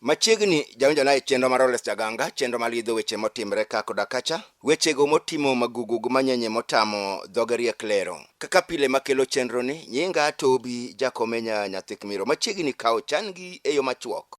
Machiegni jaonjona e chenro mar Oles Jaganga, chenro malidho weche motimre ka koda kacha. Wechego motimo magugug manyenye motamo dhoge riek lero. Kaka pile makelo chenroni, nyinga Tobi Jakomenya Nyathikmiro. Machiegni kawo chan-gi e yo machuok.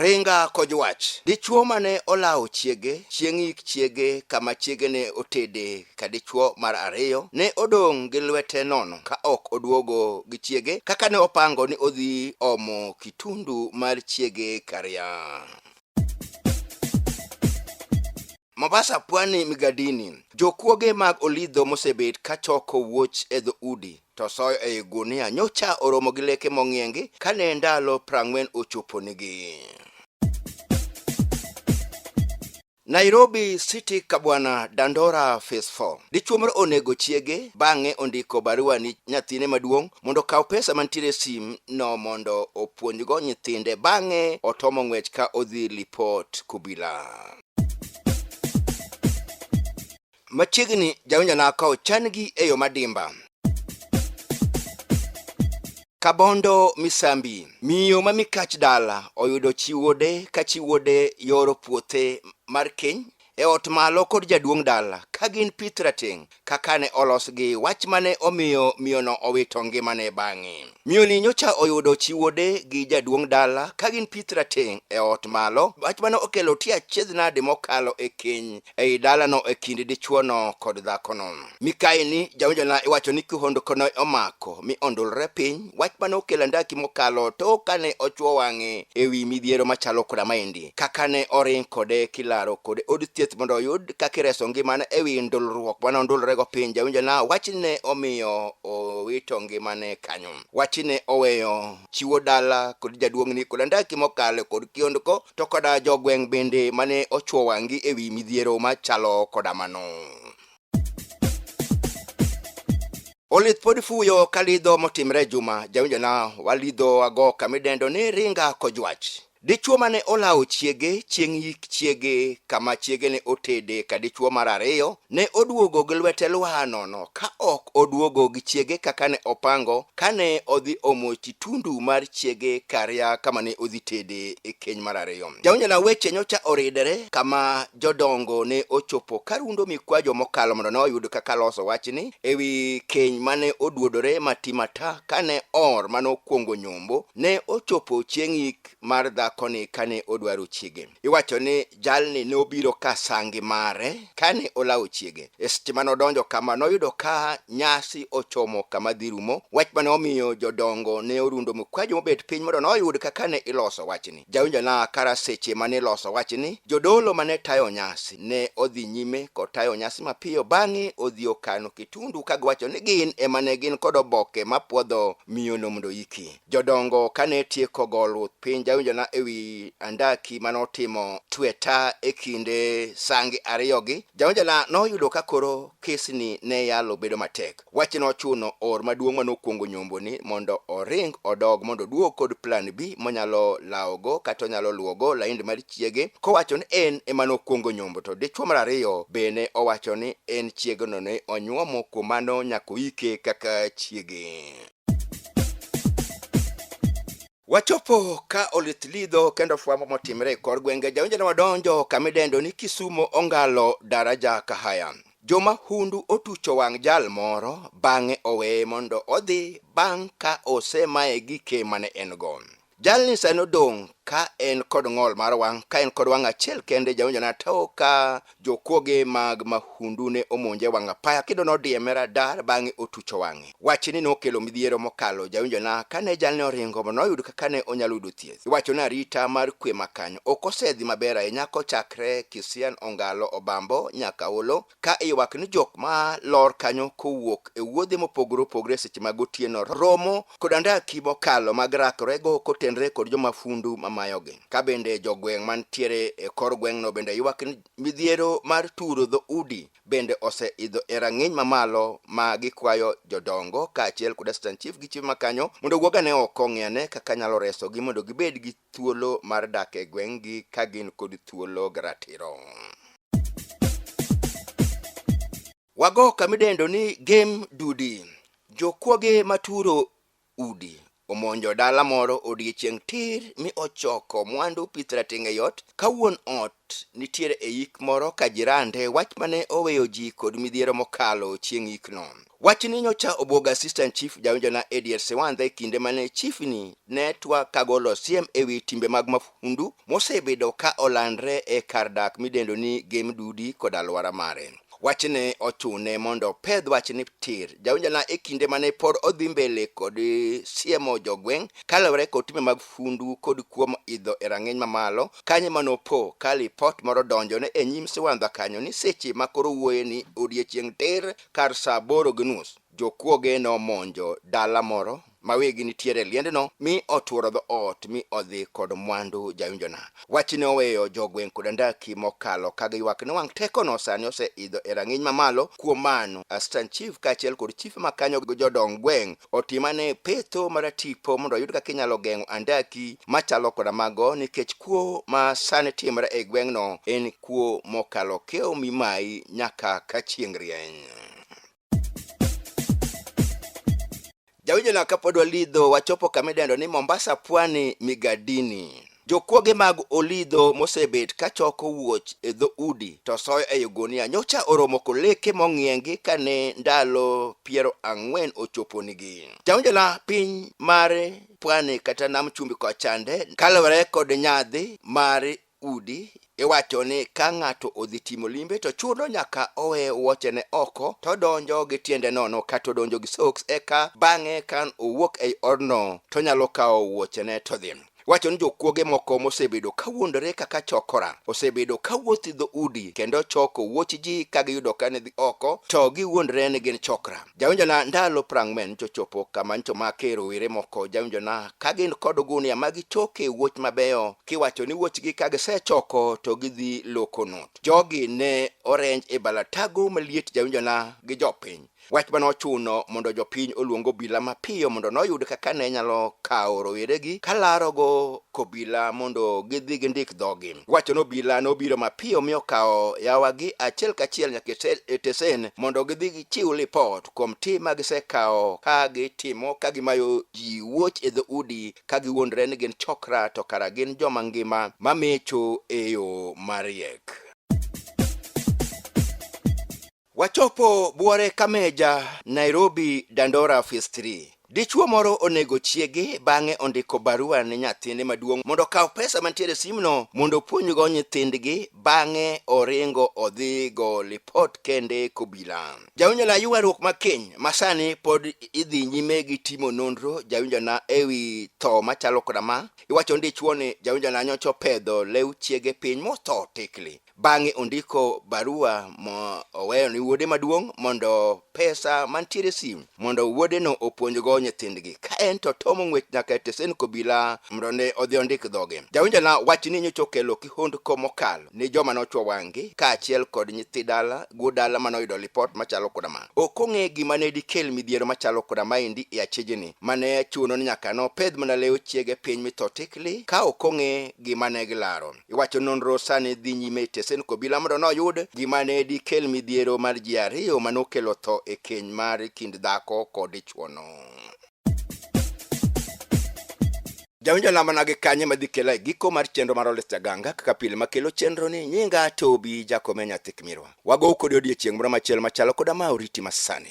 Ringa koj wach. Dichwo mane olawo chiege chieng' yik chiege kama chiege ne otede ka dichwo mar ariyo ne odong' gi lwete nono ka ok oduogo gi chiege kaka ne opango ni odhi omo kitundu mar chiege Karianyi. Mombasa Pwani Migadini, jokuoge mag Olidho mosebet ka choko wuoch e dho udi to soyo ei gunia nyocha oromo gi leke mong'iengi kane ndalo prang'wen ochoponigi. Nairobi City Kabwana Dandora Phase 4. Dichuo moro onego chiege bang'e ondiko barua ni nyathine maduong' mondo okaw pesa mantiere sim no mondo opuonjgo nyithinde bang'e otomo ng'wech ka odhi lipot kubila. Machiegni jawinjona ka ochan-gi e yo madimba. Kabondo Misambi, miyo ma mikach dala oyudo chiwode ka chiwode yoro puothe mar keny e ot malo kod jaduong' dala ka gin pith rateng' kaka ne olosgi, wach mane omiyo miyono owito ngimane bang'e. Miyoni nyocha oyudo chiwode gi jaduong' dala ka gin pith rateng' e ot malo, wach mane okelo tie achiedh nade mokalo e keny ei dalano e kind dichuono kod dhakono. Mikayi ni jawinjona iwacho ni kihondko ne omako mi ondulre piny, wach mane okelo andaki mokalo too kane ochuo wang'e ewi midhiero machalo koda maendi. kaka ne oring kode kilaro kode od thieth mondo oyud kaka ireso ngimane e wi ndulruok mane ondulrego piny jawinjo na wachne omiyo owito ngimane kanyo wachne oweyo chiwo dala kod jaduong'ni kod andaki mokalo kod kiondko to koda jogweng' bende mane ochwo wang'gi e wi midhiero machalo koda mano Olith pod fuyo ka lidho motimre juma jawinjona walidho ago kamidendo ni ringa kojwach Dichwo ma ne olawo chiege chieng' yik chiege kama chiege ne otede ka dichwo mar ariyo ne oduogo gi lwete lwar nono ka ok oduogo gi chiege kaka ne opango kane odhi omo chitundu mar chiege karia kama ne odhi tede e keny mar ariyo. Jaonjona weche nyocha oridere kama jodongo ne ochopo ka rundo mikwajo mokalo mondo ne oyud kaka loso wachni ewi keny mane oduodore matimata kane or mane okuongo nyombo Ne ochopo chieng' yik mar dhakoni kane odwaro chiege. Iwacho ni jalni ne obiro ka sangi mare kane olawo chiege. E seche mane odonjo kama noyudo ka nyasi ochomo kama dhi rumo, wach mane omiyo jodongo ne orundo mkwajo mobet piny mondo noyud kaka ne iloso wachni. Jawinjona kara seche mane iloso wachni, jodolo mane tayo nyasi ne odhi nyime kotayo nyasi mapiyo bang'e odhi okano kitundu ka giwacho ni gin ema ne gin kod oboke mapwodho miyono mondo oyiki. Jodongo kane tieko go luth piny jawinjona e wi andaki mane otimo tweta e kinde sange ariyogi, jawinjona noyudo ka koro kesni ne yalo bedo matek. Wach nochuno or maduong' ma nokwongo nyomboni mondo oring odog mondo oduog kod plan B monyalo lawogo kata onyalo luwogo laind mar chiege kowacho ni en ema nokwongo nyombo to dichwo mar ariyo bene owacho ni en chiegeno ne onyuomo kuom mano nyaka oike kaka chiege. Wachopo ka olith lidho kendo fwambo motimre e kor gwenge jaonjene wadonjo kamidendo ni Kisumo Ongalo Daraja Kahaya. Jomahundu otucho wang' jal moro bang'e oweye mondo odhi bang' ka osemaye gi ke mane en go. Jalni sani odong' ka en kod ng'ol mar wang' ka en kod wang' achiel kende jaonjone atoka Jokuoge mag mahundu ne omonje wang' apaya kendo nodieme radar bang'e otucho wang'e. Wach ni nokelo midhiero mokalo jawinjona kane jalni oringo mondo oyud kaka ne onyalo yudo thieth. Iwacho ni arita mar kwe ma kanyo ok osedhi maber ahinya kochakre Kisian Ongalo Obambo nyaka Holo ka iywak ni jok ma lor kanyo kowuok e wuodhe mopogore opogore seche mag otieno romo kod andaki mokalo mag rakrego kotenre kod jomafundu mamayogi. Ka bende jogweng' mantiere e kor gweng'no bende ywak ni midhiero mar turo dho udi bende ose idho e rang'iny mamalo ma gikwayo jodongo kaachiel kod assistant chief gi chief makanyo mondo owuog ane oko ong'i ane kaka nyalo resogi mondo gibed gi thuolo mar dak e gweng'gi ka gin kod thuolo gi ratiro. Wago kamidendo ni game dudi. Jokuoge maturo udi omonjo dala moro odiechieng' tir mi ochoko mwandu pith rating' e yot ka wuon ot nitiere e yik moro ka jirande wach mane oweyo ji kod midhiero mokalo chieng' yikno. Wachni nyocha obwogo Assistant Chief Jawinjona Edier Siwandha e kinde mane chiefni ne twak kagolo siem e wi timbe mag mahundu mosebedo ka olandre e kar dak midendo ni Game Dudi kod alwora mare. Wachni ochune mondo opedh wachni tir. Jaonjana e kinde mane pod odhi mbele kod siemo jogweng' kaluwore kod timbe mag fundu kod kuom idho e rang'iny mamalo, kanye ma nopo ka lipot moro donjone e nyim siwandha kanyo ni seche ma koro owuoye ni odiechieng' tir kar saa aboro gi nus, jokuoge nomonjo dala moro ma wigi nitiere e liendno mi otworo dho ot mi odhi kod mwandu jayunjona. Wachi ne oweyo jogweng' kod andaki mokalo ka giywak ni wang' tekono sani oseidho e rang'iny mamalo. Kuom mano, Astant Chief kaachiel kod chife ma kanyo gi jodong gweng' otim ane petho maratipo mondo oyud kaka inyalo geng'o andaki machalo koda mago nikech kuo ma sani timre e gweng'no en kuo mokalo kiewo mi mayi nyaka ka chieng' rieny. jawinjona kapod walidho wachopo kama idendo ni mombasa pwani migadini jokwoge mag olidho mosebet ka choko wuoch e dho udi to soyo e ogunia nyocha oromo koleke mong'iengi kane ndalo piero ang'wen ochoponigi jawinjona piny mar pwani kata nam chumbi kochande kalore kod nyadhi mar udi iwacho ni ka ng'ato odhi timo limbe to chuno nyaka owe wuochene oko to odonjo gi tiende nono kata odonjo gi soks eka bang'e ka owuok ei odno to nyalo kawo wuochene to dhi wacho ni jokuoge moko mosebedo ka wuondore kaka chokora osebedo ka wuothi dho udi kendo choko wuoch ji ka giyudo ka ne dhi oko to giwuondore ni gin chokra jawinjona ndalo prang'wen nchochopo kama nchomake rowere moko jawinjona ka gin kod ogunia ma gichoke wuoch mabeyo kiwacho ni wuochgi ka gisechoko to gidhi loko not jogi ne orenj e balatago maliet jawinjona gi jopiny wach mane ochuno mondo jopiny oluong obila mapiyo mondo noyud kaka ne nyalo kawo roweregi kalarogo kobila mondo gidhi gindik dhogi wacho ni obila nobiro mapiyo mi okawo yawagi achiel kachiel nyaka e tesen mondo gidhi gichiw lipot kuom tim ma gisekawo ka gitimo ka gimayo ji wuoch e dhoudi ka giwuondre ni gin chokra to kara gin joma ngima ma mecho e yo mariek. Wachopo buore Kameja, Nairobi, Dandora Phase 3. Dichwo moro onego chiege bang'e ondiko barua ne nyathine maduong' mondo okaw pesa mantiere e simno mondo opuonjgo nyithindgi bang'e oringo odhi go lipot kende kobila. Jawinjona ywaruok ma keny ma sani pod idhi nyime gi timo nonro jawinjona e wi tho machalo koda ma iwacho ni dichwo ni jawinjona nyocha opedho lew chiege piny motho tikli. Bang'e ondiko barua mo oweyo ni wuode maduong' mondo pesa mantiere sim mondo wuodeno opuonjgo nyithindgi. Ka en to tomo ng'wech nyaka e tesend kobila mondo ne odhi ondik dhoge. Jawinjona wachni nyocha okelo kihondko mokalo ni joma nochwo wang'gi kaachiel kod nyithi dala guo dala mane oyudo lipot machalo koda ma. Ok ong'e gima ne dikel midhiero machalo koda maendi e achijni mane chuno ni nyaka nopedh mana lew chiege piny mi tho tikli ka ok ong'e gima ne gilaro. Iwacho nonro sani dhi nyime e tesend obila mondo noyud gima ne dikel midhiero mar ji ariyo ma nokelo tho e keny mar kind dhako kod dichwono. Jawinjo lambana gi kanye ma dhi kela e giko mar chenro mar Olis Jaganga kaka pile makelo chenro ni nyinga Tobi Jakome Nyathikmirwa. Wagow kodi odiechieng' moro machielo machalo koda ma oriti masani.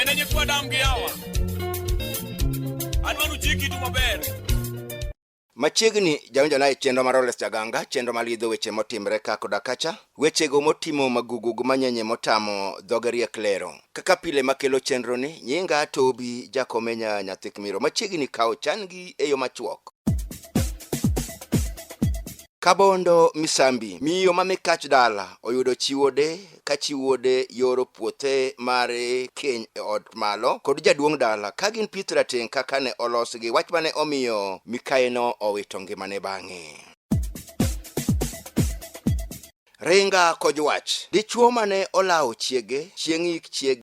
Enenye kwa damu giyawa. Anwanu chiki tu maber. Machiegni jaonjona e chenro mar Oles Jaganga, chenro malidho weche motimre ka koda kacha. Wechego motimo magugug manyenye motamo dhoge riek lero. Kaka pile makelo chenroni, nyinga Tobi Jakomenya Nyathik Miro. Machiegni kawo chan-gi e yo machuok. Kabondo Misambi, miyo ma mikach dala oyudo chiwode ka chiwode yoro puothe mar keny e ot malo kod jaduong' dala ka gin pith rateng' kaka ne olosgi wach mane omiyo mikayeno owito ngimane bang'e. Ringa koj wach, dichuo mane olawo chiege chieng' yik chiege